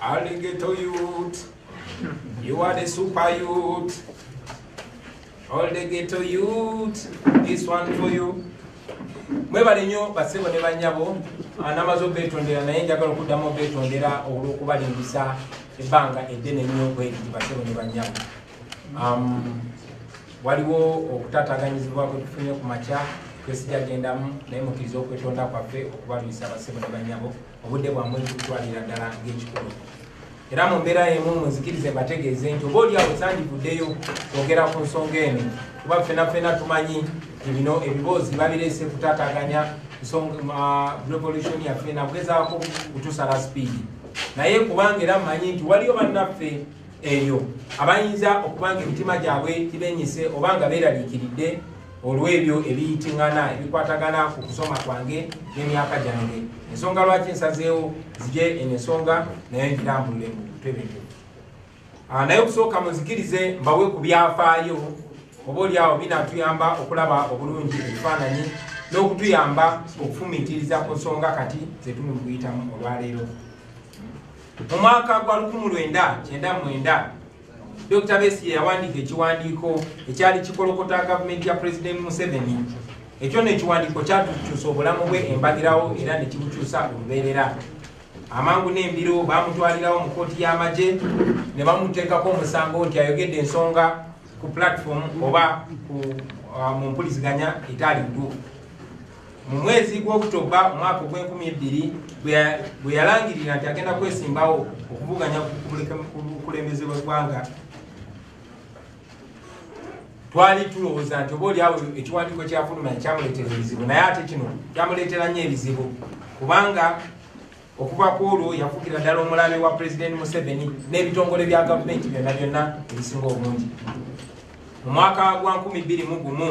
Alligator youth, you are the super youth. All the ghetto youth, this one for you. mwebale nnyo basebo ne bannyabo anamaze obetondera naye njagala okuddamu obetondera olw'okubalimbisa ebbanga eddene nnyo bweriri basebo ne bannyabo Um, waliwo okutataganyizibwa kwetufunye ku makya kwesija gendamu naye mukiriza okwetonda kwaffe okubalwisa abasebo ne banyabo obudde bwamwe kutwalira ddala ng'ekikulu era mu mbeera yemu muzikirize mbategeeze nti oba oli awo sandivuddeyo kwogera ku nsonga eno kuba ffena ffena tumanyi nti bino ebiboozi babireese kutataganya revolution yaffe nakugezaako kutusala sipiidi naye kubanga era mmanyi nti waliyo bannaffe eyo abayinza okuba nga emitima gyabwe gibenyise oba nga beeraliikiridde olw'ebyo ebiyitingana ebikwatagana ku kusoma kwange n'emyaka gyange ensonga lwaki nsazeewo zije eno ensonga naye ngirambulule mu butebeke ah, naye okusooka muzikirize mbawe ku byafaayo oba oli awo binatuyamba okulaba obulungi ebifaananyi n'okutuyamba okufumiitiriza ku nsonga kati zetuli mu kuyitamu olwaleero Mu mwaka gwa 1999 Dr. Besigye yawandiika ekiwandiiko ekyali kikolokota gavumenti ya Pulezidenti Museveni ekyo no ekiwandiiko kyatukyusa obulamu bwe embagirawo era ne kibukyusa olubeerera amangu n'embiro baamutwalirawo mu kkooti y'amagye ne bamuteekako omusango nti ayogedde ensonga ku platform oba uh, mu mpuliziganya etaali ntuufu mu mwezi gw'okutoba omwaka ogw'enkumi ebbiri bwe yalangirira nti agenda kwesimbawo okuvuganya kukulembeze bweggwanga twali tulowooza nti oba oliawo ekiwandiiko kyafuluma ekyamuleetera ebizibu naye ate kino kyamuleetera nnyo ebizibu kubanga okuva ku olwo yafugira ddala omulabe wa pulezidenti museveni n'ebitongole bya gavumenti byonna byonna ebisinga obungi mu mwaka gwa 2 mu gumu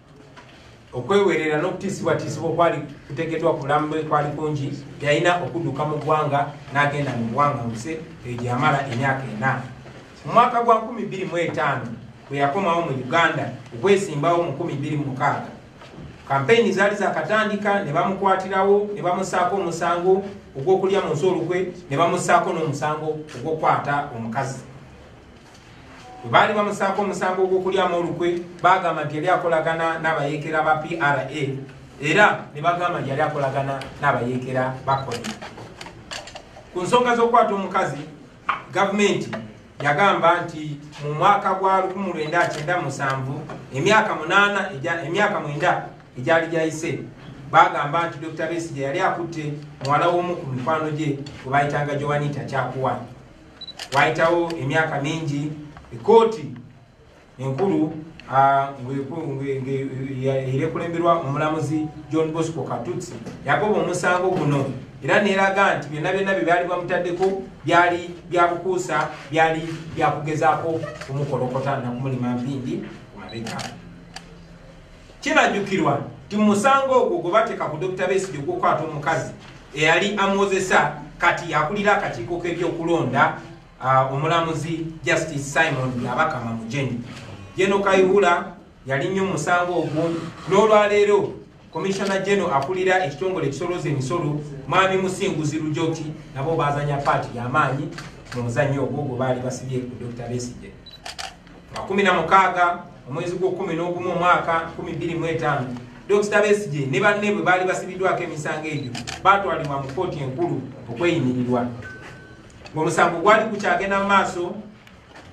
okwewerera n'okutiisibwatiisibwa okwali kutegeddwa ku bulamu bwe kwali kungi yalina okudduka mu ggwanga n'agenda mu ggwanga nse eyo gye yamala emyaka ena mu mwaka gwa 25 bwe yakomawo mu uganda okwesimbawo mu 26 kampeyini zaali zakatandika ne bamukwatirawo ne bamusaako omusango ogw'okulya mu nsi olukwe ne bamusaako n'omusango ogw'okukwata omukazi bwe baali bamusaako omusango ogw'okulyamu olukwe baagamba nti yali akolagana n'abayeekera ba pra era ne bagamba nti yali akolagana n'abayeekera bakoni ku nsonga z'okukwata omukazi gavumenti yagamba nti mu mwaka gwa 1997 emyaka munaana emyaka mwenda egyali gyayise bagamba nti dr besigye yali akutte muwala w'omu ku mikwano gye gwe bayitanga joanita kyakuwani Waayitawo emyaka mingi ekkooti enkulu era ekulemberwa omulamuzi john bosco katutsi yagoba omusango guno era neeraga nti byonna byonna bye byali bamutaddeko byali byabukuusa byali byakugezaako kumukolokota nakumulima mpindi ku mabega Kirajukirwa nti musango ogwo gwe bateeka ku Dokita Besigye ogw'okukwata omukazi eyali amwozesa kati yakulira akakiiko k'ebyokulonda uh, omulamuzi Justice Simon Byabakama Mujeni. Jeno Kayihura yali nnyo musango ogwo n'olwaleero komishona jeno akulira ekitongole ekisoloza emisolo mwami Musinguzi Lujoti nabo bazanya paati y'amaanyi mu muzannyo ogwo gwe baali basibye ku Dokita Besigye. makumi na mukaaga omwezi gw'okumi n'ogumu omwaka kumi bbiri mu etaano dokita besigye ne banne bwe baali basibiddwako emisango egyo baatwalibwa mu kkooti enkulu okweyimirirwa ng'omusango gwali gukyagenda mu maaso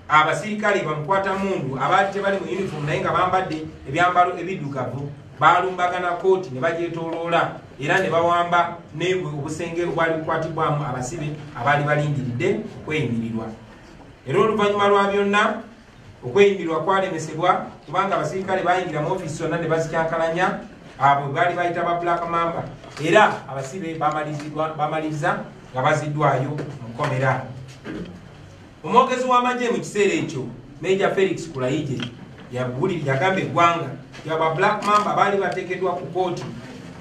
abasirikale bamukwata mundu abaali tebali mu yunifoomu naye nga bambadde ebyambalo ebiddugavu baalumbagana kkooti ne bagyetooloola era ne bawamba nebwe obusenge obwali bukwatibwamu abasibe abaali balindiridde okweyimirirwa era oluvannyuma lwa byonna okweyimirwa kwalemesebwa kubanga abasirikale bayingira mu ofiisi zonna ne bazikyankalanya abo baali bayita ba black mamba era abasibe bamaliriza nga baziddwayo mu kkomera omwogezi w'amagye mu kiseera ekyo meja felix kulayije yabuliri yagamba eggwanga yaba black mamba baali bateekeddwa ku kooti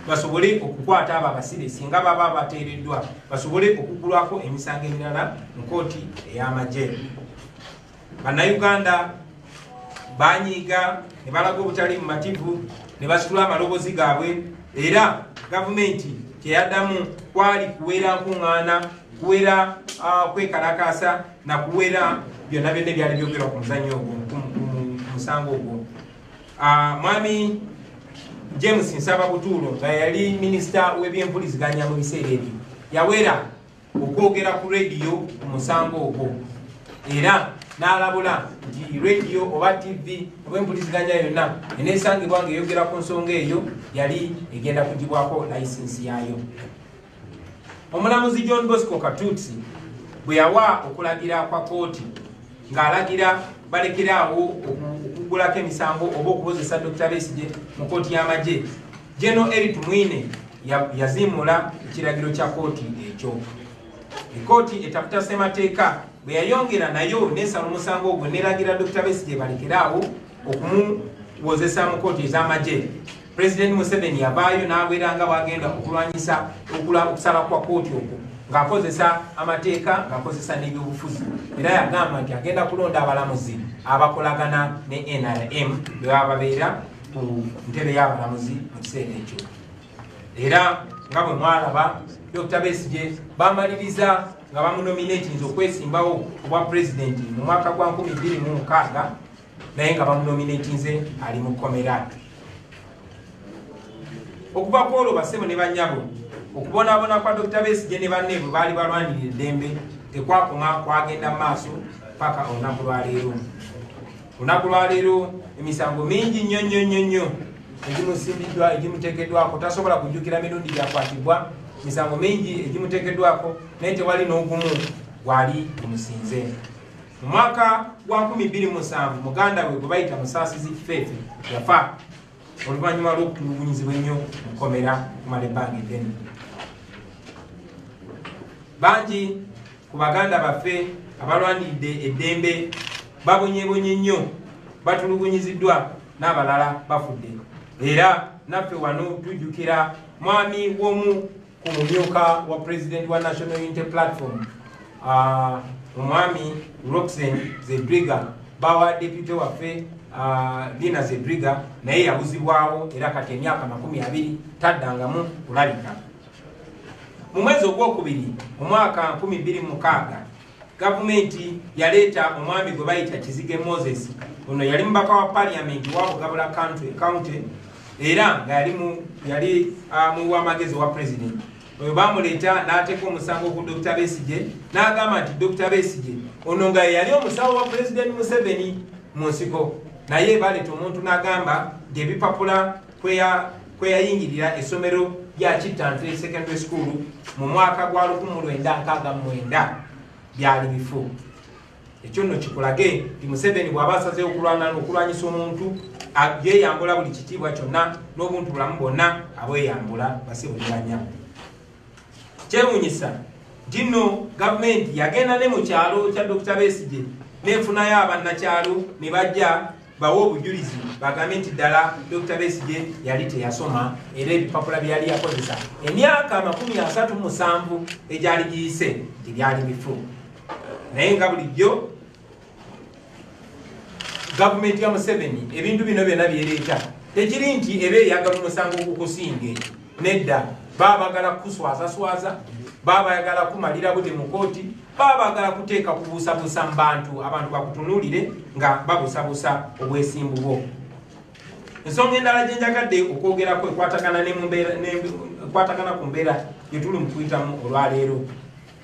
basobole okukwata abo abasibe singa baba bateereddwa basobole okuggulwako emisango emirala mu kooti ey'amagye bannayuganda banyiiga ne balaga obutali mumativu ne basitula amalobozi gaabwe era gavumenti kyeyaddamu kwali kuwera nkuŋŋaana kuwera ah, kwekalakaasa na kuwera byonna byonna ebyali byogerwa ku muzannyo ogwo ku musango ogwo Ah, mwami james nsaba butuulo nga yali minisita w'ebyempuliziganya mu biseera ebyo yawera okwogera ku rediyo ku musango ogwo era n'alabula nti rediyo oba tv oba empuliziganya yonna eneesangibwa nga eyogera ku nsonga eyo yali egenda kugibwako layisinsi yaayo omulamuzi john bosco katutsi bwe yawa okulagira kwa kooti ng'alagira balekeraawo okugulako emisango oba okukozesa dr besige mu kooti y'amagye geno eri tumwine yaziimuula ekiragiro kya kooti ekyo ekooti etaputa ssemateeka bwe yayongera nayo nesala omusango ogwo neragira dr besige balekeraawo okumuwozesa mu kooti ez'amagye Pulezidenti Museveni yavaayo n'abwera nga bw'agenda okulwanyisa okusaba kwa kkooti okwo ng'akozesa amateeka ng'akozesa n'ebyobufuzi era yagamba nti agenda kulonda abalamuzi abakolagana ne nrm bebaba babeera ku ntebe y'abalamuzi mu kiseera ekyo era nga bwe mwalaba dr besige bamaliriza nga bamunominatinza okwesimbawo obwa pulezidenti mu mwaka gwa 2 26 naye nga bamunominatinze ali mu kkomera okuva ku olwo basebo ne banyabo okubonaabona kwa dr besigye ne banne bwe baali balwanirira eddembe tekwakoma kwagenda mu maaso paka olunaku lwaleero olunaku lwaleero emisango mingi nnyo nnyo nnyo nnyo egimusimbiddwa egimuteekeddwako tasobola kujjukira mirundi gyakwatibwa misango mingi egimuteekeddwako naye tewali n'ogumu gwali gumusinze Mu mwaka gwa 2007 muganda we gwe bayita Musaasizi Kifeefe yafa oluvannyuma lw'okutulugunyizibwa ennyo mu kkomera kumala ebbanga eddene. Bangi ku baganda baffe abalwaniridde eddembe babonyebonye nnyo batulugunyiziddwa n'abalala bafudde era naffe wano tujjukira mwami w'omu ku mumyuka wa president wa national unity platform uh, omwami roxen zedriga bawa depute waffe uh, dina zedriga naye yabuzibwawo era kati emyaka makumi abiri taddangamu kulabika mu mwezi ogwokubiri omwaka 26 gavumenti yaleeta omwami gwe bayita kizige moses ono yali mubaka wa paliamenti wa bugabula county era nga yali ah, muwamagezi wa president oyo bamuleeta n'ateeka omusango ku dr besige n'agamba nti dr besige ono nga yeyali omusawo wa president museveni mu nsiko naye baleeta omuntu n'agamba nti ebipapula kweyayingirira essomero lya kittantule secondary school mu mwaka gwa 1969 byali bifu ekyo nno kikulage nti museveni bw'aba asazeewo okulwana okulwanyisa omuntu yeyambula buli kitiibwa kyonna n'obuntu bulamu bwonna abweyambula basibuliranya kyewunyisa nti nno gavumenti yagenda ne mu kyalo kya dokita besigye nefunayo abannakyalo ne bajja bawe obujulizi bagambe nti ddala dr besije yali teyasoma era ebipapula byeyali yakozesa emyaka amakumi asatu musanvu egyali giyise nti byali bifu naye nga bulijjo gavumenti ya museveni ebintu bino byona byereeta tekiri nti eba eyagala omusango gukusinge nedda baba bagala kukuswazaswaza baba bagala kumalira bute mu kooti baba bagala kuteeka kubuusabuusa mu bantu abantu bakutunuulire nga babusabusa obwesimbu bwo ensonga endala gye njagadde okwogerako ekwatagana ekwatagana ku mbeera gyetuli mu kuyitamu olwaleero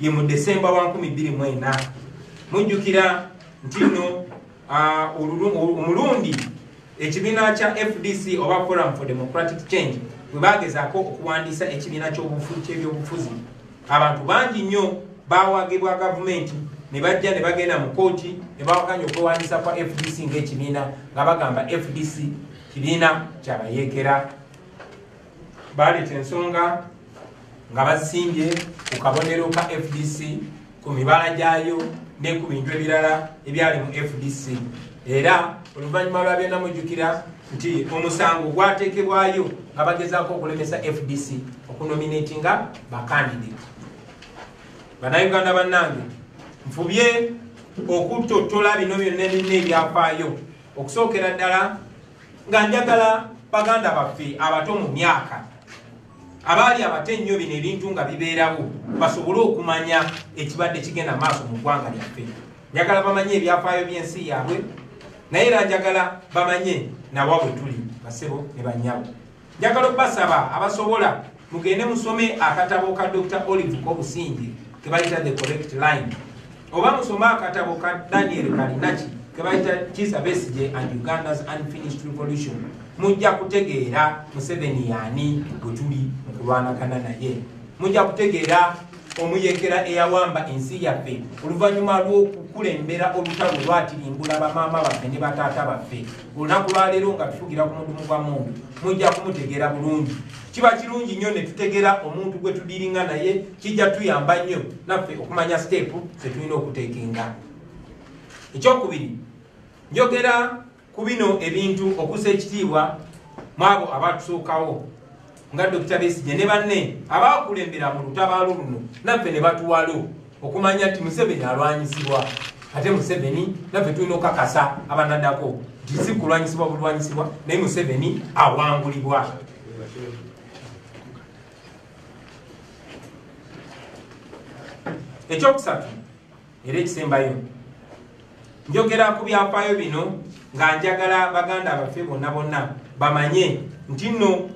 ye mu desemba wa 24 mujjukira nti no omulundi ekibiina kya fdc oba forum for democratic change bwe bagezaako okuwandiisa ekibiina ky'ebyobufuzi abantu bangi nnyo bawagibwa gavumenti ne bajja ne bagenda mu kooti ne bawakanya okwewandiisa kwa fdc ng'ekibiina nga bagamba fdc kibiina kyabayeekera Baaleeta ensonga nga bazisimbye ku kabonero ka FDC ku mibala gyayo ne ku bintu ebirala ebyali mu FDC era oluvannyuma lwa byonna mujjukira nti omusango gwateekebwayo nga bagezaako okulemesa FDC okunominatinga bakandidate bannayuganda bannange nfubye okutottola bino byonna ebirina ebyafaayo okusookera ddala nga njagala baganda baffe abato mu myaka abaali abato ennyo bino ebintu nga bibeerawo basobole okumanya ekibadde kigenda maaso mu ggwanga lyaffe njagala bamanye ebyafaayo by'ensi yaabwe naye era njagala bamanye nawa bwe tuli basebo ne banyabo njagala okubasaba abasobola mugende musome akatabo ka dr olive kobusingi kebayita the correct line oba musome akatabo ka daniel kalinaki kebayita kisa besije and uganda's unfinished revolution mujja kutegeera museveni yaani bwetuli mukulwanagana naye mujja kutegeera omuyekera eyawamba ensi yaffe oluvannyuma lw'okukulembera olutalo lwatirimbula bamaama baffe ne bataata baffe olunaku lwaleero nga tufugira ku mudumu gwa mundu mujja kumutegeera bulungi kiba kirungi nnyo ne tutegeera omuntu gwe tudiringa naye kijja tuyamba nnyo naffe okumanya siteepu ze tulina okuteekenga ekyokubiri njogera ku bino ebintu okusa ekitiibwa mwabo abatusookawo nga Dokita Besigye ne banne abaakulembera mu lutabaalo luno naffe ne batuwalo okumanya nti Museveni alwanyisibwa ate Museveni naffe tulina okukakasa abanadako nti si kulwanyisibwa bulwanyisibwa naye Museveni awangulibwa ekyokusatu era ekisembayo njogera ku byafaayo bino nga njagala baganda abaffe bonna bonna bamanye nti nno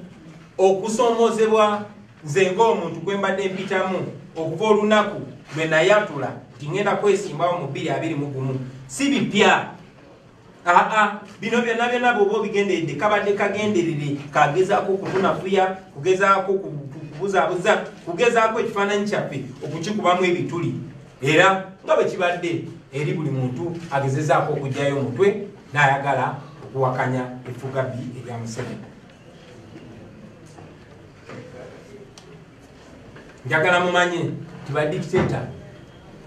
okusoomozebwa nze ng'omuntu gwe mbadde mpitamu okuva olunaku lwe nayatula nti ŋenda kwesimbawo mu bbiri abiri mu gumu si bipya aa bino byonna byonna bwoba obigenderedde kabadde kagenderere kagezaako okutunafuya kugezaako kubuzabuza kugezaako ekifaananyi kyaffe okukikubamu ebituli era nga bwe kibadde eri buli muntu agezezaako okugyayo omutwe n'ayagala okuwakanya effuga bbi erya museveni njagala mumanye nti badikiteta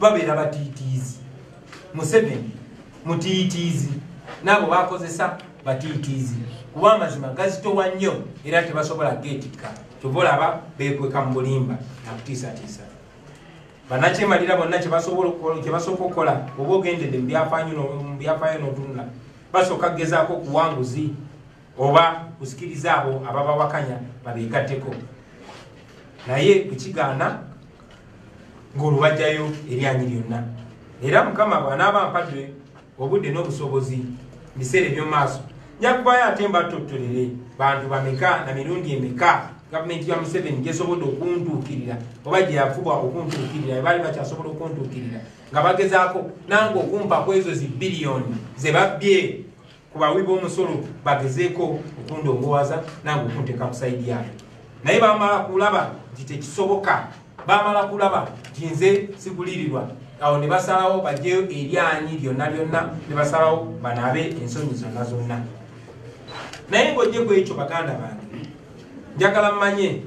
babeera batiitiizi museveni mutiitiizi naabo bakozesa batiitiizi kuba amazima gazitowa nnyo era tebasobola geetikka kyova olaba beekweka mu bulimba nakutiisatiisa banakyemalira bonna kyebasooka okukola oba ogendedde mu byafaayo n'otunula basooka kugezaako okuwanguzi oba kuzikiriza abo ababawakanya babegatteko naye kukigaana ng'olubajjayo eryanyi lyonna era mukama bw'anaaba mpadde obudde n'obusobozi mu biseera eby'omu maaso nyakubayo ate mbattottolere bantu bameka na mirundi emeka gavumenti ya museveni gyesobodde okuntuukirira oba gye yafubwa okuntuukirira ebaali bakyasobola okuntuukirira nga bagezaako nange okumpa ku ezo zi biliyoni ze babbye ku bawi b'omusolo bagezeeko okundongoowaza nange okunteeka ku sayidi yaabwe naye bamala kulaba nti tekisoboka bamala kulaba nti nze sigulirirwa awo ne basalawo bajeyo eryanyi lyonna lyonna ne basalawo banaabe ensonyi zonna zonna naye ng'ojje ku ekyo baganda bange njagala mmanye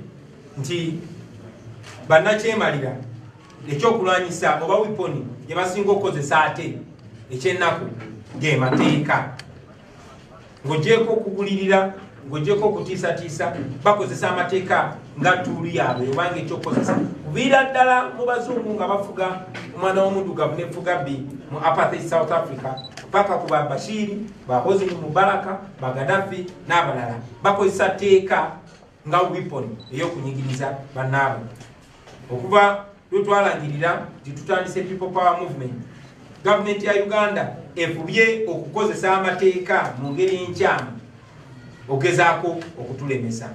nti bannakyemalira ekyokulwanyisa oba wiponi gyebasinga okukozesa ate ekyennaku gemateeka ng'ogyeko okugulirira ng'ogyeko okutiisatiisa bakozesa amateeka nga tuulu yaabwe obanga ekyokukozesa kuviira ddala mu bazungu nga bafuga omwana w'omudugavu nefuga bbi mu apathe south africa paka ku ba bashiiri ba hosini mubaraka ba gadafi n'abalala bakozesa teeka nga weapon eyokunyigiriza banaabwe okuva lwetwalangirira nti tutandise people power movement gavumenti ya uganda efubye okukozesa amateeka mu ngeri enkyamu ogezaako okutulemesa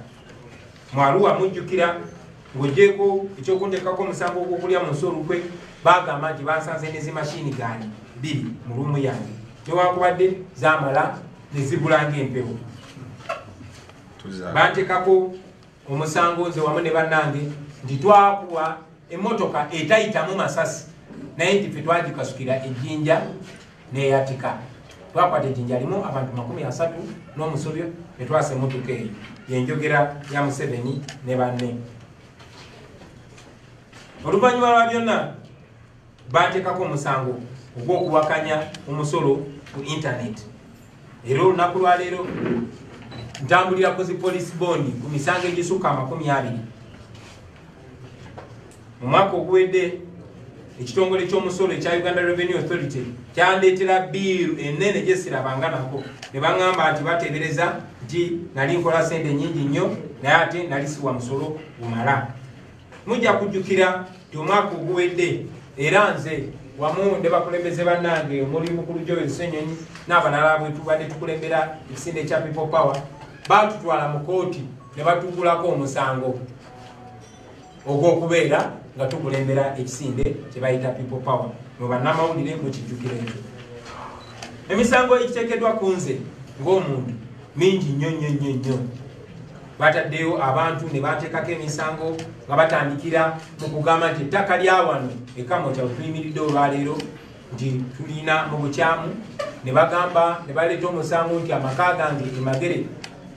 mwaluwa mujjukira ng'ogyeko ekyokunteekako omusango ogwokulya mu nsi olukwe bagamba nti bansanze ne zimashini gani biri mu lumu yange newankubadde zamala nezibulanga empewo bantekako omusango nze wamu ne bannange nti twakuwa emotoka etayitamu masasi naye nti fe twagikasukira ejjinja neyatika twakwata ejjinja limu abantu makumi asatu n'omusobyo etwasa emotoka eyo yenjogera ya museveni ne banne oluvannyuma lwa byonna bantekako omusango ogw'okuwakanya omusolo ku intaneti era olunaku lwaleero ntambulira ku zipolisi bondi ku misango egisukka amakumi abiri mu mwaka oguwedde ekitongole ky'omusolo ekya uganda revenue authority kyandeetera biiru enene gyesirabanga nako ne baŋŋamba nti bateebereza nti nali nkola sente nyingi nnyo naye ate nali siwa musolo gumala mujja kujjukira nti omwaka oguwedde era nze wamu ne bakulembeze bannange omuli mukulu joel senyonyi n'abalala bwetubadde tukulembera ekisinde kya people power baatutwala mu kooti ne batugulako omusango ogw'okubeera nga tukulembera ekisinde kye bayita people power mu bannamawulire mukijjukira ekyo emisango egiteekeddwa ku nze ng'omuntu mingi nnyo nnyo nnyo nnyo bataddeyo abantu ne bateekako emisango nga batandikira mu kugamba nti ettaka lya wano ekamota wetuyimiridde olwaleero nti tulina mu bukyamu ne bagamba ne baleeta omusango nti amaka gange emagere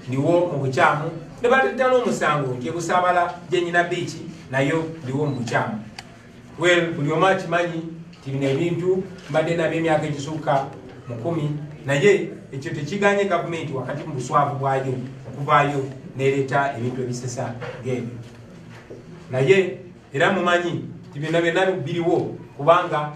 ndiwo mu bukyamu ne baleeta n'omusango nti ebusaabala gyenyina biiki nayo ndiwo mu bukyamu Well, buli omu akimanyi nti bino ebintu mbadde nabyo emyaka egisukka mu kumi naye ekyo tekiganye gavumenti wakati mu buswavu bwayo okuvaayo nereeta ebintu ebisesa ng'ebyo naye era mumanyi nti byonna byonna biriwo kubanga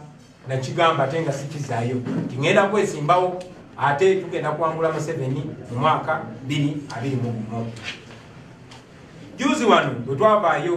nakigamba ate nga sikizaayo nti ŋenda kwesimbawo ate tugenda kwangula museveni mu mwaka 2 2 mu gumu juzi wano bwe twavaayo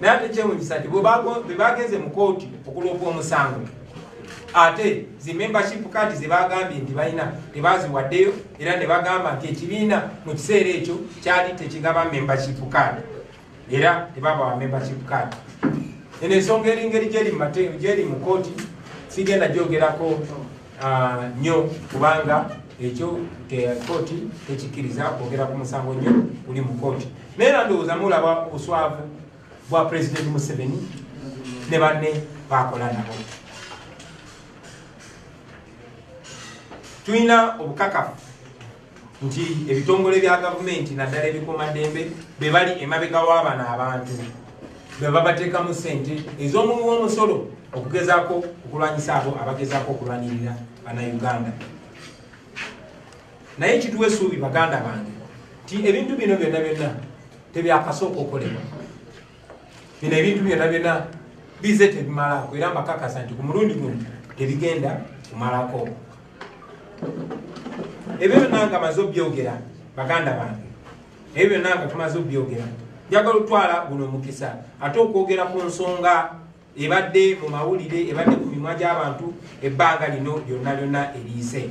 naye ate kyewunyisa nti bwebagenze mu kooti okuloopa omusango ate zi membership card zebagambye nti balina tebaziwaddeyo era nebagamba nti ekibiina mu kiseera ekyo kyali tekigaba membership card era tebabawa membership card eno ensonga eringeri gyeri mu kooti sigenda gyogerako nyo ah, kubanga ekyo kooti tekikkiriza kwogera ku musango nyo guli mu kooti naye era ndowooza mulaba obuswavu bwa pulezidenti museveni ne banne bakola nabo tulina obukakafu nti ebitongole bya gavumenti naddala ebikuumaddembe be bali emabega w'abano abantu be babateekamu ssente ez'omuwi w'omusolo okugezaako okulwanyisa abo abagezaako okulwanirira banauganda naye kituwa esuubi baganda bange nti ebintu bino byonna byonna tebyakasooka okolebwa bino ebintu byona byona bize tebimalako era mbakakasa nti ku mulundi guno tebigenda kumalako ebyo byona nga maze obyogera baganda bange ebyo byona nga tumaze obyogera njagala otwala guno omukisa ate okwogera ku nsonga ebadde mu mawulire ebadde ku mimwa gy'abantu ebbanga lino lyonna lyonna eriise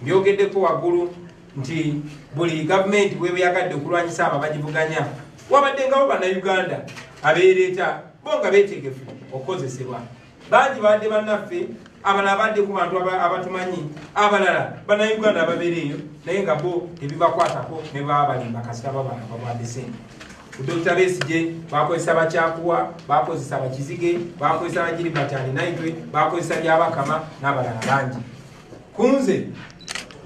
mbyogeddeko waggulu nti buli gavumenti webeyagadde okulwanyisa abo abagivuganya wabadde ngawo bannayuganda abeereeta bo nga beetegefu okukozesebwa bangi baadde bannaffe abalala badde ku bantu abatumanyi abalala bannayuganda ababeereeyo naye nga bo tebibakwatako ne baba balimba kasita babaababwadde sente Dokita Besigye bakozesa bakyakuwa bakozesa bakizige bakozesa bajiri batani naitwe bakozesa byabakama n'abalala bangi kunze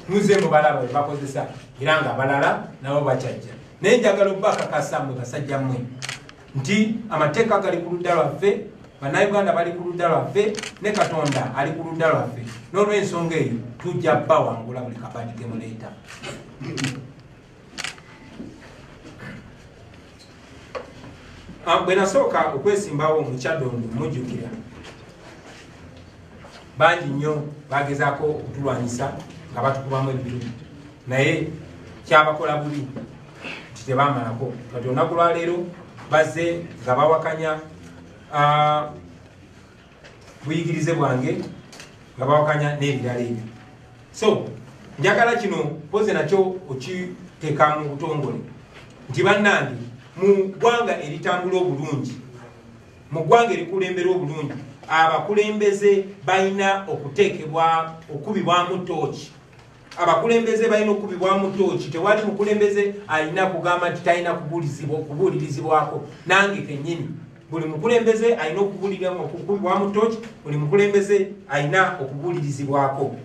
muze mubalaba bebakozesa era nga abalala nabo bakyajja naye njagala obubakakasa mwe basajja mmwe nti amateeka gali ku ludda lwaffe bannayuganda bali ku ludda lwaffe ne katonda ali ku ludda lwaffe n'olwensonga eyo tujja bawangula buli kabadi gemuleeta Ah, bwe nasooka okwesimbawo mu kyadondo mujjukira bangi nnyo bagezaako okutulwanyisa nga batukubamu ebitu naye kyabakola bubi nti tebamalako kati olunaku lwaleero bazze nga bawakanya ah, buyigirize bwange nga bawakanya n'ebirala ebyo so njagala kino mpoze nakyo okiteeka mu butongole nti bannange mu ggwanga eritambula obulungi mu ggwanga erikulembera obulungi abakulembeze balina okuteekebwa okukubibwamu tooki abakulembeze balina okukubibwamu tooki tewali mukulembeze alina kugamba nti talina kubuulirizibwako nange kenyini buli mukulembeze alina okukubibwamu tooki buli mukulembeze alina okubuulirizibwako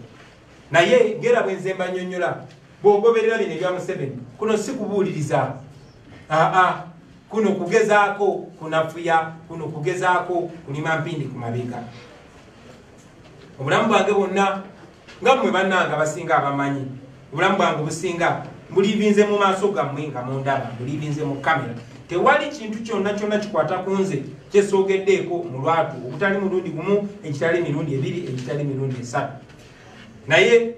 naye ngera bwenze mbanyonyola bwogoberera bino ebya museveni kuno si kubuuliriza aa kuno kugezaako kunafuya kuno kugezaako kulima mpindi ku mabega obulamu bwange bwonna nga mmwe bannanga basinga abamanyi obulamu bwange obusinga mbulivinze mu maaso gammwe nga mundaba mbulivinze mu kamera tewali kintu kyonna kyonna kikwata ku nze kyesoogeddeeko mu lwatu ogutali mulundi gumu egitali mirundi ebiri egitali mirundi esatu naye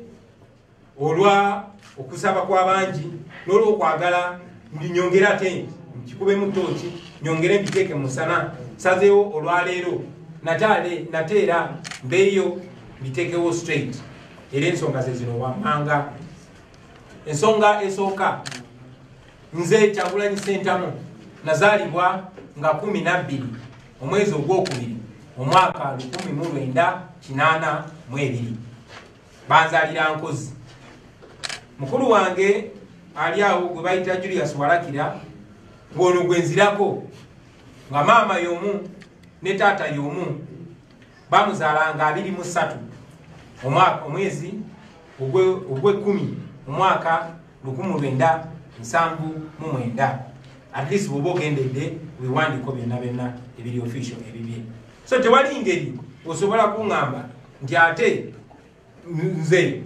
olwa okusaba kwabangi nolwokwagala mbinyongere ate nkikubemu tooki nyongere mbiteeke musana sazeewo olwaleero nataale nate era mbeeyo mbiteekewo straight era ensonga zezino wammanga ensonga esooka nze kyagulanyi sentamu nazaalibwa nga kumi nabbiri omwezi ogwokubiri omwaka lukumi mu lwenda kinaana mu ebiri banzalira nkozi mukulu wange ali awo gwe bayita julius walakira gwono gwenzirako nga maama yomu ne taata yomu bamuzalanga abiri mu ssatu omwezi ogwekumi omwaka lukumu lwenda nsanvu mu mwenda at least bwoba ogendedde wewandiiko byonna byonna ebiri official ebibye so tewali ngeri osobola kuŋamba nti ate nze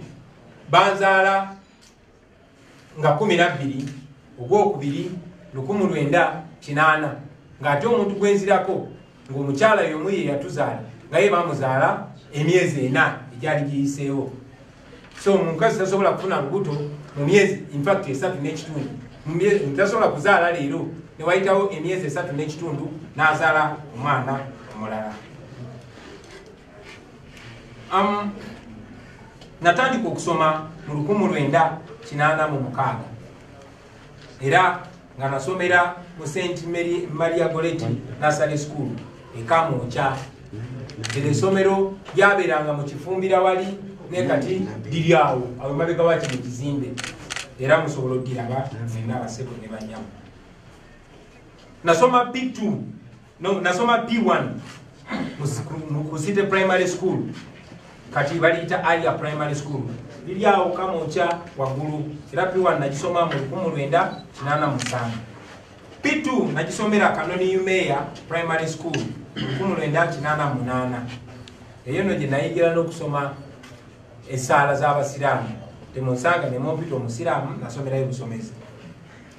banzaala nga kumi nabbiri ogwokubiri lukumu lwenda kinaana ng'ate omuntu gwenzirako ng'omukyala yomu ye yatuzaala nga ye bamuzaala emyezi ena egyali giyiseewo so omukazi tasobola kufuna lubuto mu myezi infact esatu n'ekitundu tasobola kuzaala leero newayitawo emyezi esatu n'ekitundu n'azaala omwana omulala Um, natandika okusoma mu lukumu lwenda kinaana mu mukaaga era nga nasomera mu st maria goleti nasale school ekamokya ero esomero lyabeeranga mu kifumbira wali naye kati liri awo awo emabega waki mu kizimbe era musobola odiraba mwena abasebo ne banyamu nasoma bitu no nasoma p1 ku city primary school kati baliyita alia primary school liri awo kamunkya waggulu era p1 nagisoma mu 1987 p2 nagisomera kanoni umeya primary school 1988 eyo no gye nayigira n'okusoma esaala z'abasiraamu temunsanga nemumpita omusiraamu nasomerayo busomezi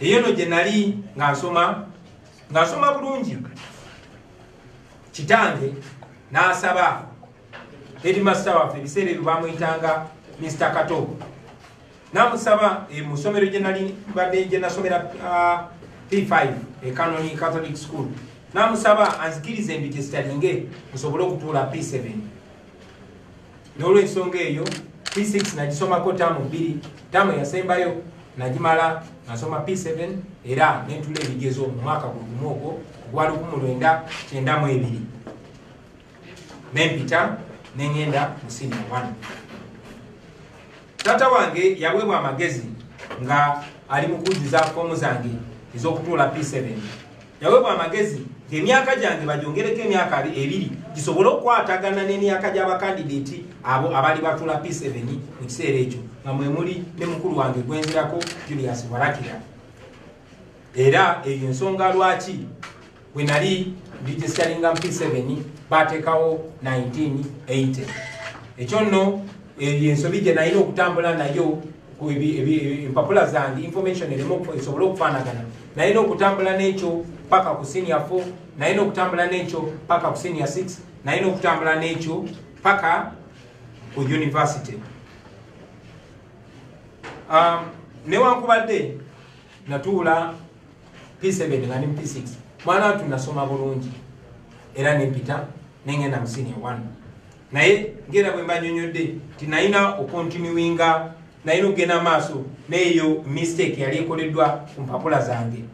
eyo no gye nali nga nsoma nga nsoma bulungi kitange n'asaba hedimasita waffe ebiseera ebyo bamuyitanga mr kato namusaba eh, mu ssomero gye nali mbadde gye nasomera ah, p5 ekanoni catholic school namusaba anzikirize mbi gyesitalinge nsobole okutuula p7 n'olwensonga eyo p6 nagisomako taamu bbiri taamu eyasembayo nagimala nasoma p7 era nentula ebigezo mu mwaka gwegumu ogwo ogwa 1992 nempita nengenda mu siniya 1 taata wange yaweebwa amagezi nga ali mu kujjuza foomu zange ez'okutuula p7 Yawebwa amagezi nti emyaka gyange bagyongereko emyaka ebiri gisobole okukwatagana n'emyaka gy'abakandideeti abo abali batula P7 mu kiseera ekyo nga mwe muli ne mukulu wange gwenzirako Julius Warakira. Era eyo ensonga lwaki bwe nali registaringa mu P7 baateekawo 1980. Ekyo nno eyo ensobi gye nalina okutambula nayo empapula zange information erimu esobole okufaanagana naye n'okutambula n'ekyo paka ku senior 4 naye n'okutambula n'ekyo paka ku senior 6 naye n'okutambula n'ekyo paka ku university um, newankubadde natuula p7 nga ni p6 mwana watu nasoma bulungi era nempita nengenda mu senior 1 naye ngera bwe mbanyonyodde nti nalina okontinuwinga nalina okugenda maaso neeyo mistake yali ekoleddwa ku mpapula zange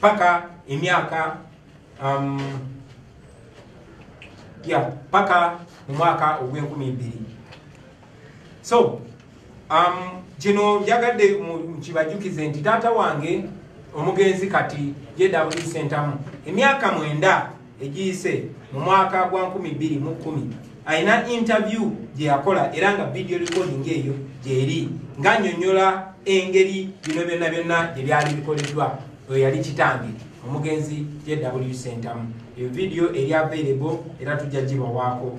paka emyaka um, ya paka mu mwaka ogw'enkumi bbiri so Um, kino njagadde nkibajukize nti taata wange omugenzi kati jw sentamu emyaka mwenda egiyise mu mwaka gwa 211 alina interview gyeyakola era nga video recording eyo gyeri nga nyonyola engeri bino byonna byonna gyebyali bikoleddwa oyo yali kitange omugenzi jw sentamu eyo video eri available era tujja gibawaako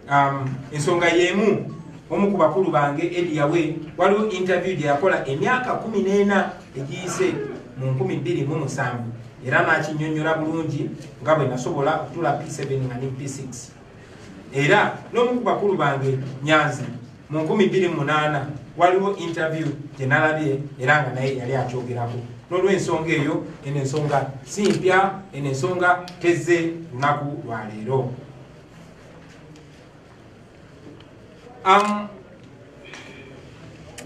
Um, ensonga yemu omu ku bakulu bange ediyawe waliwo interview gyeyakola emyaka kumi n'ena egiyise mu nkumi bbiri mu musanvu era nakinyonyola bulungi nga bwe nasobola okutula p7 nga ne p6 era n'omu ku bakulu bange nyanzi mu nkumi bbiri mu munaana waliwo interview gye nalabye era nga naye yali akyogerako n'olwensonga eyo eno ensonga si mpya eno ensonga tezze lunaku lwaleero am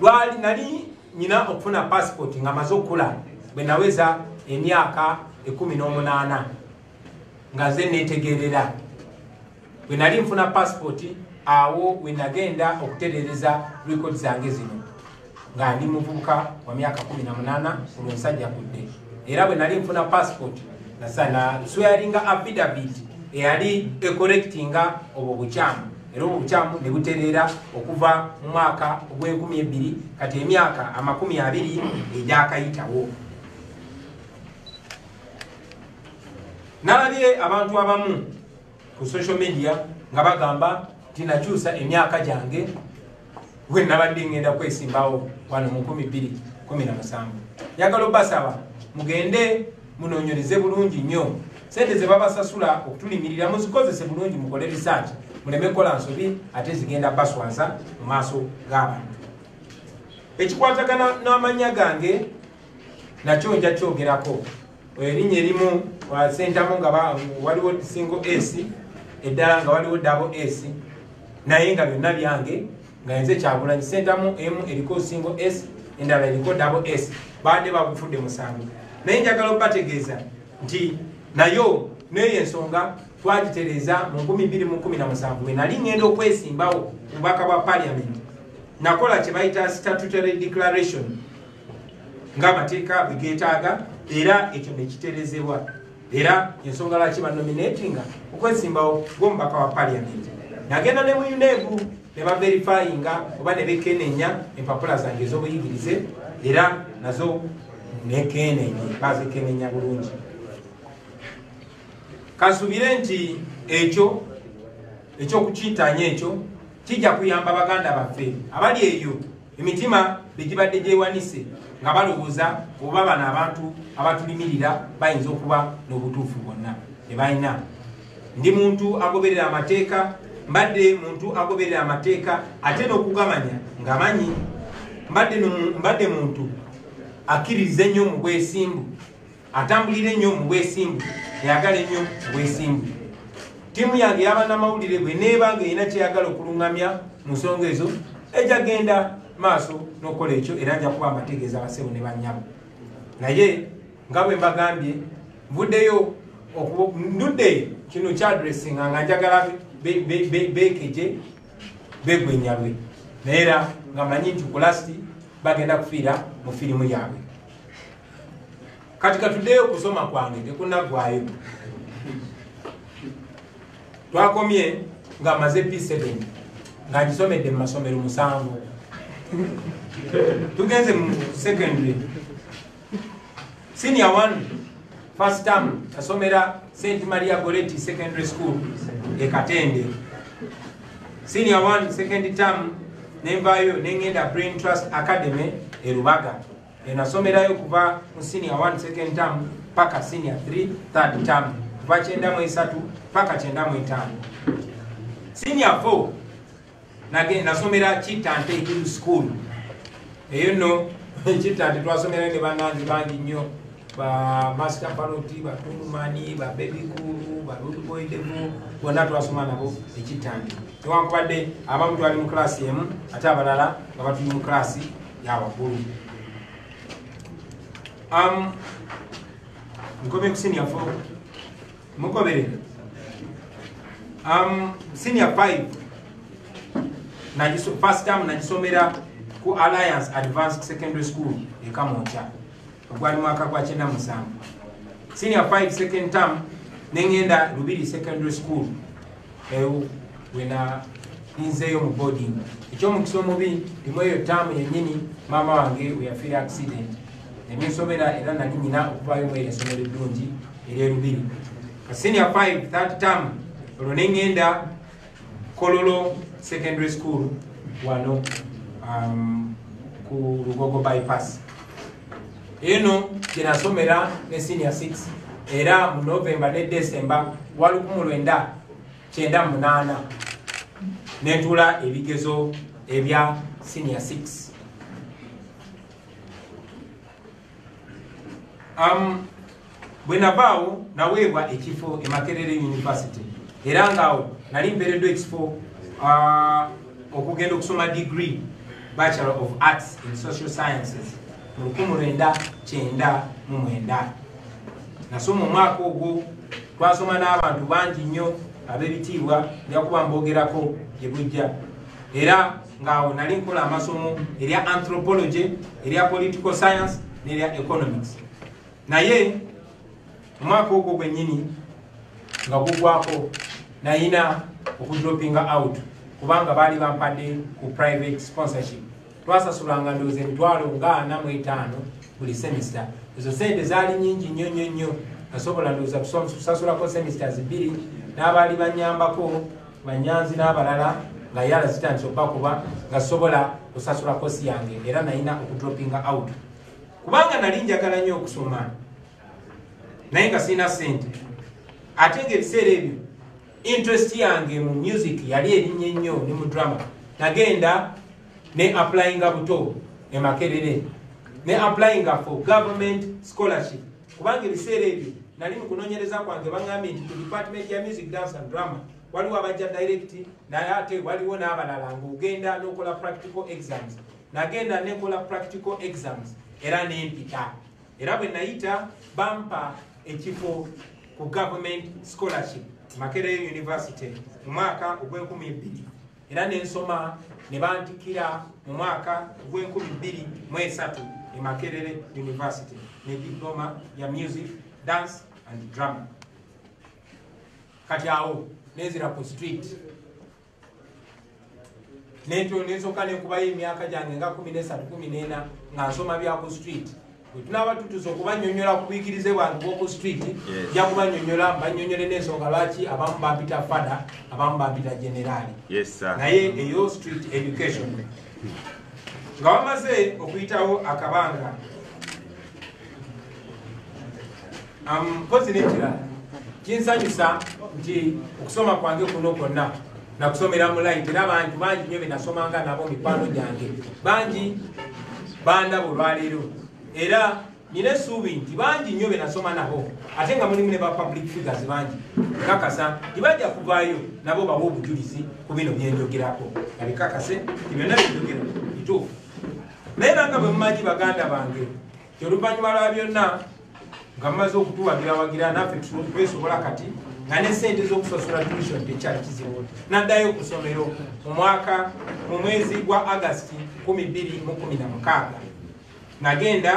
lwali nali nyina okufuna passport nga maze okula bwe naweza emyaka ekumi n'omunaana nga ze netegerera bwe nali nfuna passport awo wenagenda okuterereza record zange zino nga ndi muvubuka wa myaka kumi na munaana olwo nsajja kudde era bwe nali nfuna passport nasana swearinga affidavit eyali ecorrectinga obwo bukyamu era obwo bukyamu ne butereera okuva mu mwaka ogw'enkumi ebbiri kati emyaka amakumi abiri egyakayitawo nalabye abantu abamu ku social media nga bagamba nti nakyusa emyaka gyange we nabadde ngenda kwesimbawo wano mu 217 njagala obasaba mugende munonyereze bulungi nnyo sente zebabasasula okutulimirira muzikozese bulungi mukole research muleme kukola nsobi ate zigenda baswaza mu maaso g'abantu ekikwatagana n'amanya gange nakyo nja kyogerako erinnya erimu sentamu nga waliwo single s eddala nga waliwo dabo s naye nga byonna byange nga nze kyagulanyi sentamu emu eriko single s endala eriko dabo s baadde bagufudde musango naye njagala okubategeeza nti nayo neyo ensonga twagitereeza mu 217 wenali ngenda okwesimbawo mubaka bwa parliament nakola kyebayita statutory declaration ng'amateeka bwe geetaaga era ekyo ne kiterezebwa era ensonga lwaki banominatinga okwesimbawo gw'omubaka wa paliamenti nagenda ne mu unebu ne baverifayinga oba ne bekenenya empapula zange ez'obuyigirize era nazo nekenenye bazikenenya bulungi kasubire nti ekyo ekyokukintanya ekyo kijja kuyamba baganda baffe abali eyo emitima begibadde gyewanise nga balowooza oba bano abantu abatulimirira bayinza okuba n'obutuufu bwonna tebalina ndi muntu agoberera amateeka mbadde muntu agoberera amateeka ate n'okugamanya ngamanyi mbadde muntu akkiririza ennyo mu bwesimbu atambulira ennyo mu bwesimbu eyagala ennyo mu bwesimbu ttiimu yange yabanamawulire bwe neeba nga erina kyeyagala okuluŋŋamya mu nsonga ezo ejja genda maaso n'okukola ekyo era nja kuba mbategeeza basebo ne bannyabo naye nga bwe mbagambye nvuddeyo ndudde kino kyadressinga nga njagala bekeje begwenyalwe naye era nga manyi nti kulasti bagenda kufiira mu firimu yaabwe kati katuddeyo okusoma kwange tekunaggwayo twakomye nga amaze p7 nga ngisomedde mu masomero musanvu tugenze mu secondary senior one first term asomera st maria goretti secondary school ekatende senior one second term nenvayo nengenda brain trust academy erubaga enasomerayo kuva mu senior 1 second term paka senior 3 third term kuva kyenda mu esatu paka kyenda mu etaano senior 4 nage nasomera kitante hill school eyo no kitante twasomerayo ne banange bangi nnyo ba master paloti batungumani ba baby kulu ba root boy devu bona twasoma nabo ekitante newankubadde abamu twali mu klasi emu ate abalala nga batuli mu klasi yabakulu um, nkomye ku senior four mugoberera um, senior five first time nagisomera ku alliance advanced secondary school ekamonkya ogwali mwaka gwa kyenda musanvu senior 5 second term nengenda lubiri secondary school ewo wena ninzeeyo mu boarding ekyomukisa omubi limu eyo taamu yenyini maama wange weyafiira accident nebinsomera era nali nyina okuvayo mu eryesomero eddungi eryerubiri senior 5 that term olwo nengenda Kololo Secondary School wano um, ku Lugogo Bypass. Eno jenasomera ne senior 6 era mu November ne December walukumu lwenda kyenda munaana nentuula ebigezo ebya senior 6. Um, bwe navaawo naweebwa ekifo emakerere university era ngaawo nali mpeereddwa ekifo uh, okugenda okusoma degree bachelor of arts in social sciences mu lukumu lwenda kyenda mu mwenda nasoma omwaka ogwo twasoma n'abantu bangi nnyo ab'ebitiibwa njakuba mbogerako gye bujja era ngaawo nali nkola amasomo erya anthropology erya political science nerya economics naye omwaka ogwo gwenyini nga gugwako nayina okudropinga out kubanga baali bampadde ku private sponsorship twasasulanga ndooza emitwalo nga ana mu etaano buli semester ezo sente zaali nyingi nnyo nnyo nnyo nasobola ndooza kusasulako semesters bbiri n'abaali banyambako banyanzi n'abalala nga yala zitandise okuba kuba nga sobola kusasula kosi yange era nalina okudropinga out kubanga nali njagala nnyo okusoma naye nga sirina sente ate nga ebiseera ebyo interest yange mu music yali erinnya ennyo ne mu drama nagenda ne applyinga buto emakerere ne applyinga for government scholarship kubanga ebiseera ebyo nali mu kunoonyereza kwange baŋambye nti ku department ya music dance and drama waliwo abajja direct naye ate waliwo n'abalala ng'ogenda n'okola practical exams nagenda nekola practical exams era nempita era bwe nayita bampa ekifo ku government scholarship makerere university mu mwaka ogw'enkumi ebbiri era nensoma ne bantikira mu mwaka gw'enkumi bbiri mu esatu e makerere university ne diploma ya music dance and drama kati awo nenzira ku street nensoka nenkubayo emyaka gyange nga kumi nesatu kumi nena nga nsoma bya ku street bwetunaaba tutuusa okubanyonyola ku buyigirize bwange bwoku street ja kubanyonyola banyonyole n'ensonga lwaki abamu bampita fada abamu bampita generaali naye eyo street education nga wamaze okuyitawo akabanga mpozi um, nekirala kinsanyusa nti okusoma kwange kuno kwonna nakusomera mulayiti era bantu bangi nyo benasomanga nabo mikwano gyange bangi bandaba olwaleero era nina esuubi nti bangi nyo benasoma nabo ate nga mulimu ne ba public figures bangi kakasa tibajja kuvaayo nabo bawa obujulizi ku bino byenjogerako nabikakase ti byonna byenjogera bituufu naye nanga bwe mumanyi baganda bange Oluvannyuma lwa byonna nga mumaze okutuwagirawagira naffe twesobola kati nga ne sente z'okusasula tuition tekyali kizibu naddayo ku ssomero mu mwaka mu mwezi gwa agasti 216 nagenda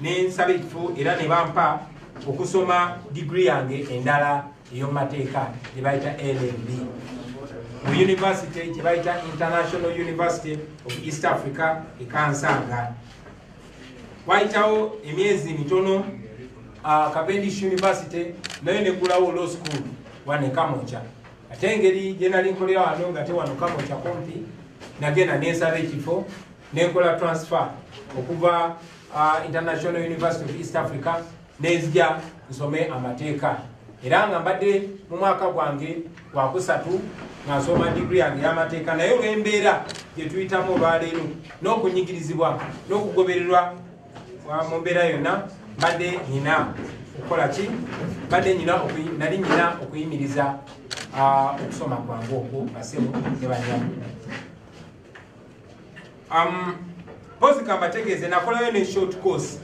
ne nsaba ekifo era ne bampa okusoma digiri yange endala eyomumateeka gye bayita lmb mu yunivasite gye bayita international university of east africa ekansanga Waayitawo emyezi mitono uh, Cavendish University nayo neggulawo law school wane Kamokya ate engeri gye nali nkolera wano nga te wano Kamokya kumpi nagenda nensaba ekifo nenkola transfer okuva uh, International University of East Africa nenzija nsome amateeka era nga mbadde mu mwaka gwange gwakusatu nga nsoma digri yange y'amateeka naye olw'embeera gye tuyitamu olwaleero n'okunyigirizibwa n'okugobererwa mu mbeera yonna mbadde nyina okukola ki mbadde nyina nali nyina okuyimiriza okusoma kwange okwo basemu ne banyamu um, pozi kambategeeze nakolayo ne short course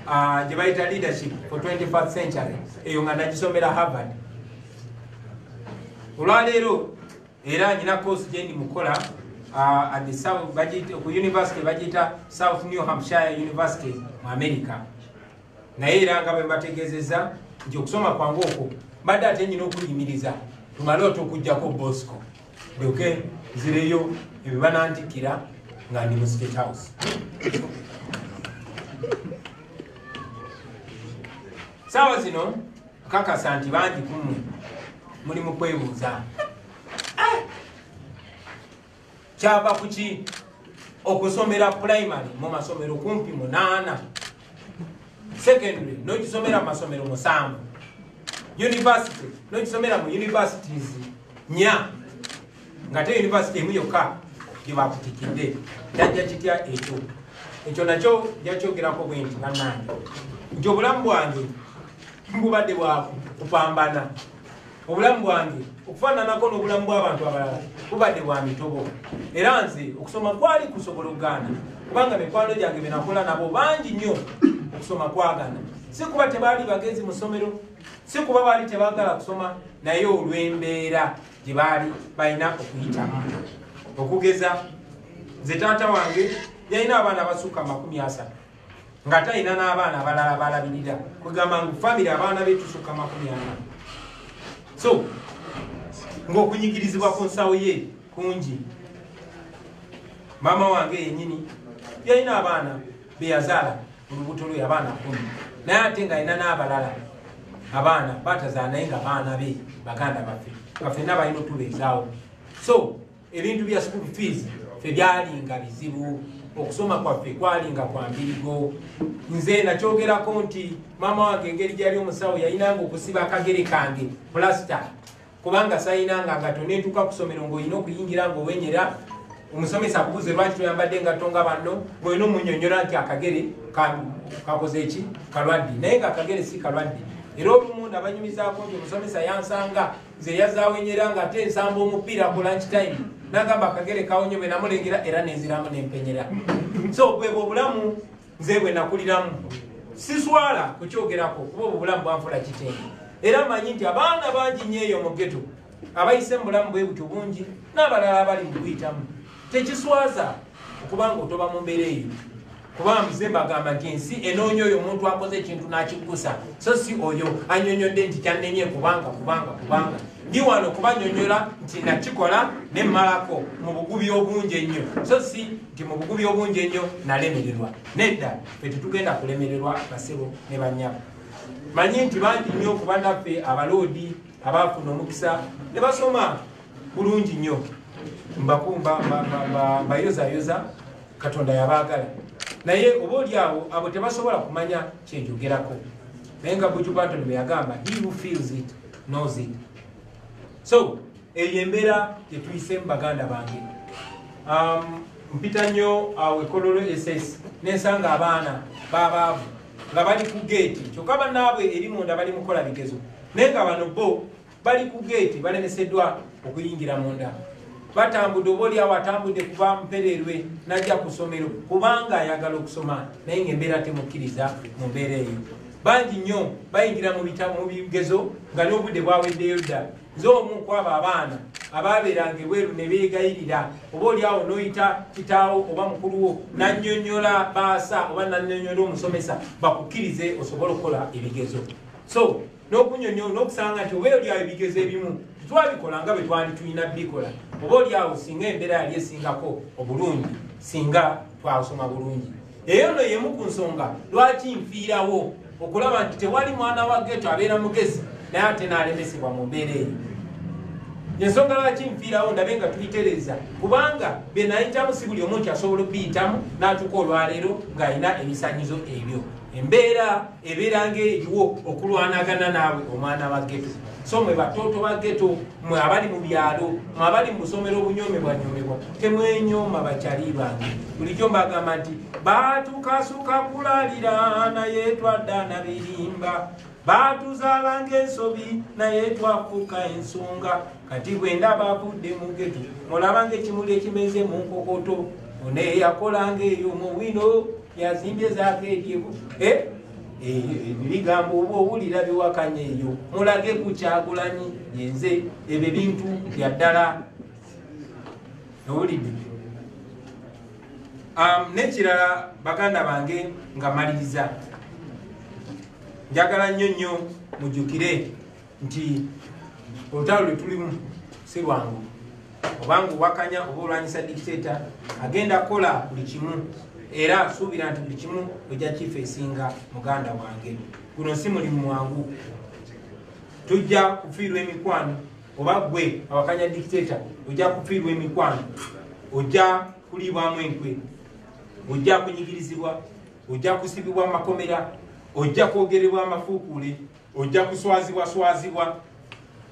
uh, gye bayita leadership for 21st century eyo nga nagisomera harvard olwaleero era nyina course gyendi mukola uh, at the south bagiyita ku university bagiyita south new hampshire university mu america naye era nga bwembategeezezza nti okusoma kwange okwo mbadde ate nyina okuyimiriza tumale otukugjako bosco lyoke nzireyo ebyo banantikira nga ndi mu state house saawa zino kakasa nti bangi kumwe muli mu kwebuuza eh! kyava kuki okusomera primary mu masomero kumpi munaana secondary nokisomera mu masomero musanvu university nokisomera mu universities nya ngate university emu yokka gyebakutikidde jajja kitya ekyo ekyo nakyo jakyogerako bwenti banange nti obulamu bwange bubadde bwakupambana obulamu bwange okufaananako n'obulamu bw'abantu abalala bubadde bwa mitobo era nze okusoma kwali kusobola okugaana kubanga mikwano gyange byenakola nabo bangi nnyo okusoma kwagana si kuba tebaali bagezi mu ssomero si kuba baali tebaagala kusoma naye olw'embeera gye baali balina okuyitamu okugeza nze taata wange yalina abaana abasukka amakumi asatu nga talina n'abaana abalala balabirira kwegamba ngu famiry abaana be tusukka makumi ana so ng'okunyigirizibwa ku nsawo ye kungi maama wange yenyini yalina abaana beyazaala olubuto lwe abaana kumi naye ate nga alina n'abalala abaana batazaala naye nga baana be baganda baffe nga fenna balina otubeezaawo so ebintu bya school fees fe byalinga bizibu okusoma kwaffe kwalinga kwa mbirigo nze nakyogerako nti maama wange engeri gyali omusawo yayinanga okusiba akagere kange plasita kubanga sayinanga ngato netuuka kusomero ngaolina okuyingira ngaowenyera omusomesa akubuze lwaki toyambadde engatto nga banno ngaolina omunyonyola nti akagere kakoze eki kalwadde naye nga akagere si kalwadde era olumu nabanyumizako nti omusomesa yansanga nze yazaawe nyo era nga ate nsamba omupiira ku lunch time nagamba akagere kawonye bwe namulengera era nenziramu nempenyera so bwebwo obulamu nze bwe nakuliramu siswala kukyogerako kuba obwo bulamu bwanfula kitendo era manyi nti abaana bangi nyo eyo mu geto abayise mu bulamu bwe butyo bungi n'abalala abali mu kuyitamu tekiswaza okuba nga otoba mu mbeera eyo kubanga mze mbagamba nti ensi enoonya oyo omuntu akoze ekintu n'akiggusa so si oyo anyonyodde nti kyannemye kubanga kubanga kubanga ndi wano kubanyonyola nti nakikola ne mmalako mu bugubi obungi ennyo so si nti mu bugubi obungi ennyo nalemererwa nedda fe tetugenda kulemererwa basebo ne banyabo manyi nti bangi nnyo kubanaffe abaloodi abaafuna omukisa ne basoma bulungi nnyo mbayozayoza katonda yabaagala naye oba oli awo abo tebasobola kumanya kyenjogerako naye nga bujubaton bweyagamba he who feels it knows it so eyo embeera gyetuyisemu baganda bange um, mpita nnyo awo ekololo ss nensanga abaana babaavu nga bali ku geeti kyokka banaabwe eri munda bali mukola bigezo naye nga bano bo bali ku geeti balemeseddwa okuyingira munda batambudde oba oliawo atambudde kuba mpererwe najja ku ssomero kubanga ayagala okusoma naye ngaembeera temukkiriza mu mbeera eyo bangi nnyo bayingira mu bigezo nga n'obudde bwaweddeyo dda nze omu kwabo abaana abaabeeranga ebweru ne beegayirira oba oliawo n'oyita kitaawo oba mukuluwo nannyonnyola baasa oba nannyonnyola omusomesa bakukkirize osobole okukola ebigezo so n'okunyonyola n'okusanga nti oba oli awo ebigezo ebimu tetwabikola nga bwe twali tulina bikola oba oli awo singa embeera yali esingako obulungi singa twasoma bulungi eyo no yemu ku nsonga lwaki nfiirawo okulaba nti tewali mwana wa geto abeera mugezi naye ate naalemesebwa mu mbeera eyo ensonga lwaki nfiirawo ndabe nga tubitereeza kubanga byenayitamu si buli omu nti asobola okuyitamu n'atuuka olwaleero ng'alina ebisanyizo ebyo embeera ebeera ng'eriwo okulwanagana naabwe omwana wa geto so mwe batooto ba geto mwe abali mu byalo mwe abali mu busomero obunyomebwanyomebwa temwenyoma bakyali bange bulijjo mbagamba nti batukasuka kulalira naye twadda na birimba baatuzaala ng'ensobi naye twafuuka ensonga kati bwe ndaba avudde mu geto mulaba ng'ekimuli ekimeze mu nkokoto oneeyakolanga eyo mu wino yazimbye zakeekebu eh? eh, bigambo oba owulira biwakanya eyo mulage ku kyagulanyi yenze ebyo bintu byaddala owulidde um, nekirala baganda bange nga maliriza njagala nnyo nnyo mujukire nti olutalo lwe tulimu si lwangu obanga owakanya oba olwanyisa dikiteeta agenda kukola buli kimu era asuubira nti buli kimu ojja kifa esinga muganda wange guno si mulimu mwangu tujja kufiirwa emikwano oba gwe awakanya dikiteeta ojja kufiirwa emikwano ojja kuliibwamu enkwe ojja kunyigirizibwa ojja kusibibwa mu makomera ojja kwogerebwa amafuukuule ojja kuswazibwaswazibwa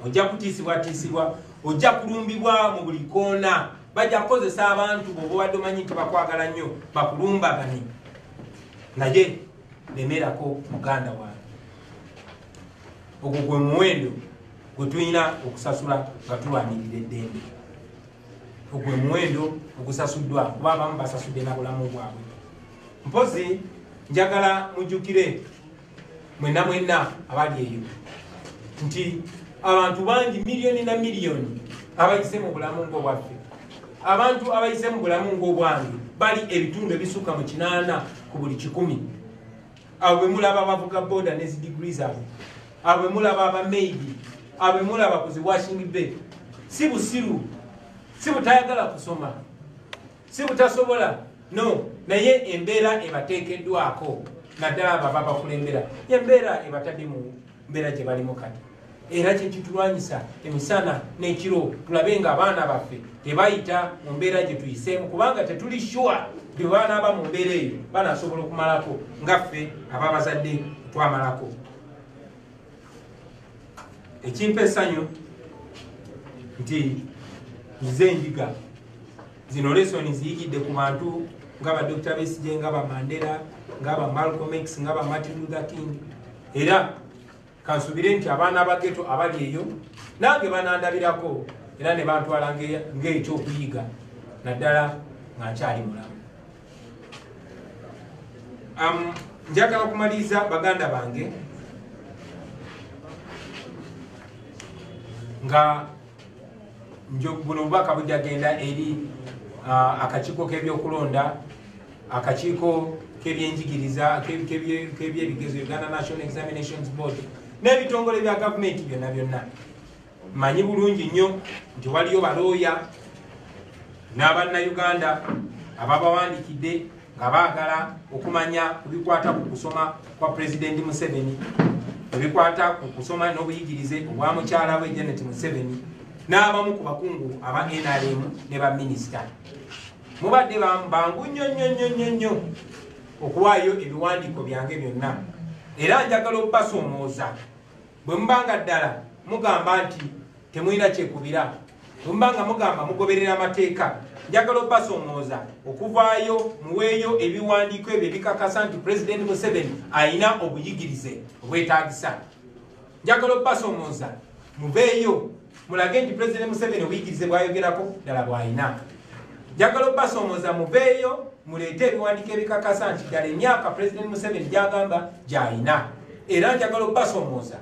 ojja kutiisibwatiisibwa ojja kulumbibwa mu buli koona bajja kukozesa abantu bobobadde omanyi nti bakwagala nnyo bakulumbagane naye lemerako muganda wange ogwo gwe muwendo gwe tulina okusasula nga tulwanirira eddembe ogwe muwendo ogusasuddwa kuba abamu basasudde na bulamu bwabwe mpozi njagala mujjukire mwena mwena abali eyo nti abantu bangi miliyoni na miliyoni abayise mu bulamu ngaobwaffe abantu abayise mu bulamu ngaobwange bali ebitundu ebisukka mu kinaana ku buli kikumi abo bemulaba abavuga boda ne zidigiri zaabwe abo bemulaba abamaidi abo bemulaba ku ziwashing bay si busiru si butayagala kusoma si butasobola no naye embeera ebateekeddwako naddala abo aba bakulembera embeera ebatadde mu mbeera gye balimu kati era kyekitulwanyisa emisana n'ekiro tulabe nga abaana baffe tebayita mu mbeera gye tuyiseemu kubanga tetuli shuwa bye banaaba mu mbeera eyo banasobola okumalako nga ffe ababazadde twamalako ekimpa esanyu nti nze enjiga zino lesoni ziyigidde ku bantu nga ba dr besije nga ba mandela nga ba malcolm x nga ba martin luther king era kansubire nti abaana bageto abali eyo nange banandabirako era ne bantwala ng'ekyokuyiga naddala nga nkyali mulamu Um, njagala kumaliriza baganda bange nga buno obubaka bujagenda eri uh, akakiiko k'ebyokulonda akakiiko k'ebyenjigiriza k'ebyebigezo uganda national examinations board n'ebitongole bya gavumenti byonna byonna Manyi bulungi nnyo nti waliyo balooya n'abannayuganda ababawandikidde nga baagala okumanya ku bikwata ku kusoma kwa pulezidenti museveni ebikwata ku kusoma n'obuyigirize obwa mukyala we janet museveni n'abamu ku bakungu aba nrm ne baminisita mubadde bangu nnyo nnyo nnyo nnyo nnyo okuwaayo ebiwandiiko byange byonna era njagala okubasoomooza bwe muba nga ddala mugamba nti temulina kyekubira bwe muba nga mugamba mugoberera amateeka njagala obasomooza okuvaayo muweeyo ebiwandiiko ebyo ebikakasa nti pulezidenti museveni alina obuyigirize obwetagisa njagala obasomooza mubeeyo mulage nti president museveni obuyigirize bwayogerako ddala bwalina njagala obasoomoza muveeyo muleete ebiwandiiko ebikakasa nti ddala emyaka president museveni gyagamba gyalina era njagala obasoomoza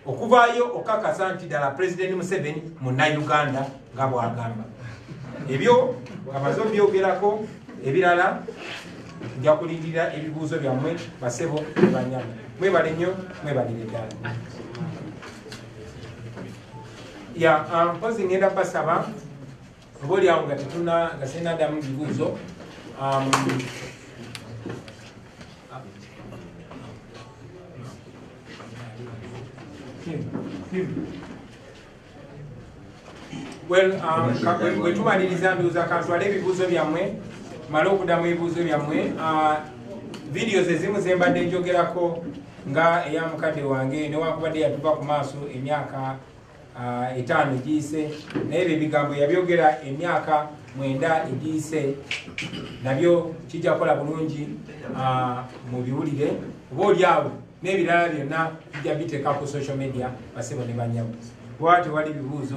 okuvaayo okakasa nti ddala president museveni munauganda nga bwagamba ebyo amaze obyogerako ebirala nja kulindirira ebibuuzo byammwe basebo ebanyama mwebale nnyo mwebalire ddala ya ah, mpozi ngenda basaba oba olyawo nga tetuna nga sirina damu bibuuzo um, well um, wetumaliriza ndowooza kantwala ebibuuzo byammwe male okudamu ebibuuzo byammwe uh, videos ezimu zembadde njogerako nga eya mukadde wange newankubadde yatuva ku maaso emyaka ah, etaano egiyise naye ebyo ebigambo yabyogera emyaka mwenda egiyise nabyo kijja kukola bulungi ah, mu biwulire oba olyawo n'ebirala byonna bijja biteeka ku social media basibo ne banyamu kuba tewali bibuuzo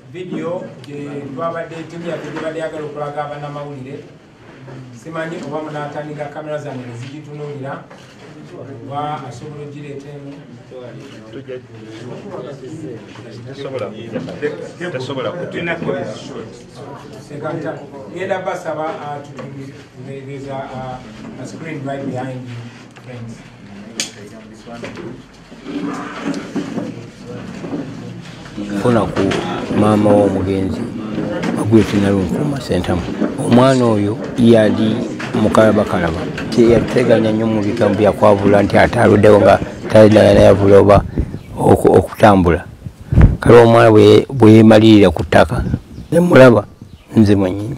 vidiyo gyetwabadde timya gyebadde yagala okulaga abanamawulire simanyi oba munatandika kamera zange nezigitunulira oba asobola ogireeta emu ngenda basaba tutueza screen right behind friends funa ku maama w'omugenzi agwetinalunfuma sentamu omwana oyo yali mukalabakalaba teyateganya nnyo mu bigambo byakwabula nti ate aluddewo nga talinanayavula oba okutambula kale omwana bweyemalirira ku ttaka nemulaba nze mwenyini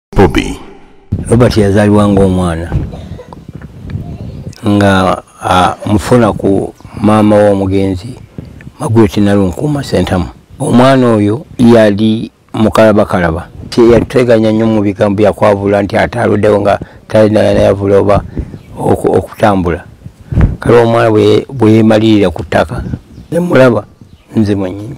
bobi robert yazalibwa ngaomwana nga mufuna ku maama womugenzi magweti nalunkuuma sentamu omwana oyo yali mukalabakalaba yateganya nnyo mu bigambo byakwavula nti ate aluddewo nga talinayavula oba okutambula kale omwana bweyemalirira ku ttaka nemulaba nze mwenyini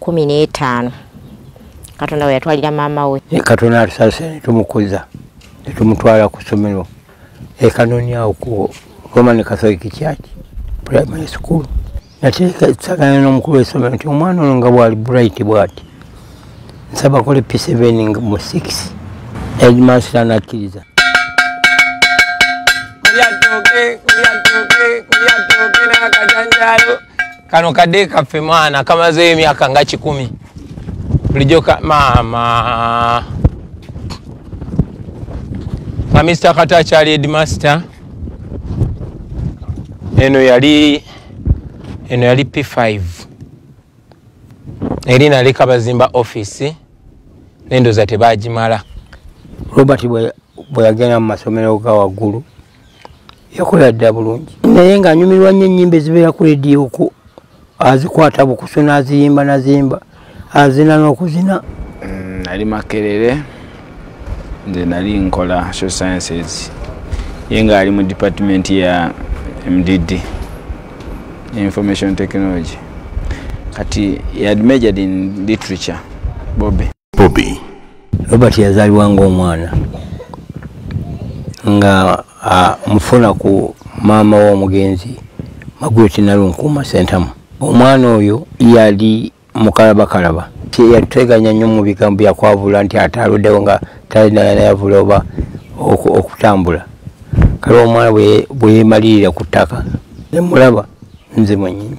kumi n'etaano katonda we yatwalira maama we e katonda atusase netumukuza netumutwala ku ssomero ekanonyawo ku roman catholic church primary school nateekesagana n'omukulu w'essomero nti omwana ono nga bwali bright bwati nsaba kole p7 mu 6 edmaster nakkiriza Kuya toke, kuya toke, kuya toke na kajanjalo. kano kade kaffe mwana kamazeyo emyaka nga kikumi bulijjo maama nga mister kata akyali edmaster eno yali eno yali p5 eri naleka bazimba office nendoza tebagimala robert bwe yagenda mu masomero ga waggulu yakola dda bulungi naye ng'anyumirwa nnyo ennyimba ezibeera ku rediyo ku azikwata bukusu n'aziyimba naziyimba azina n'okuzina mm, nali makerere nze nali nkola so sciences ye ng'ali mu department ya mdd information technology kati yad majored in literature bobe bobi robert yazaalibwa ng'omwana nga mufuna ku maama w'omugenzi magweti nalunkuuma sentamu omwana oyo yali mukalabakalaba yateganya nnyo mu bigambo byakwavula nti ate aluddewo nga talinayavula oba okutambula kale omwana bweyemalirira ku ttaka nemulaba nze mwenyini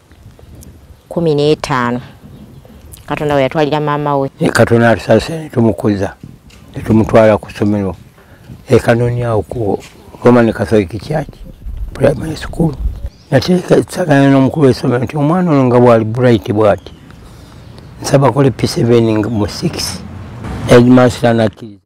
kumi n'etaano katonda we yatwalira maama we e katonda atusase netumukuza netumutwala ku ssomero ekanonyawo ku roman catholic church primary school nateekesagana n'omukulu w'essomero nti omwana ono nga bwali bright bwati nsaba kole p7 mu 6 edmaster nakkiriza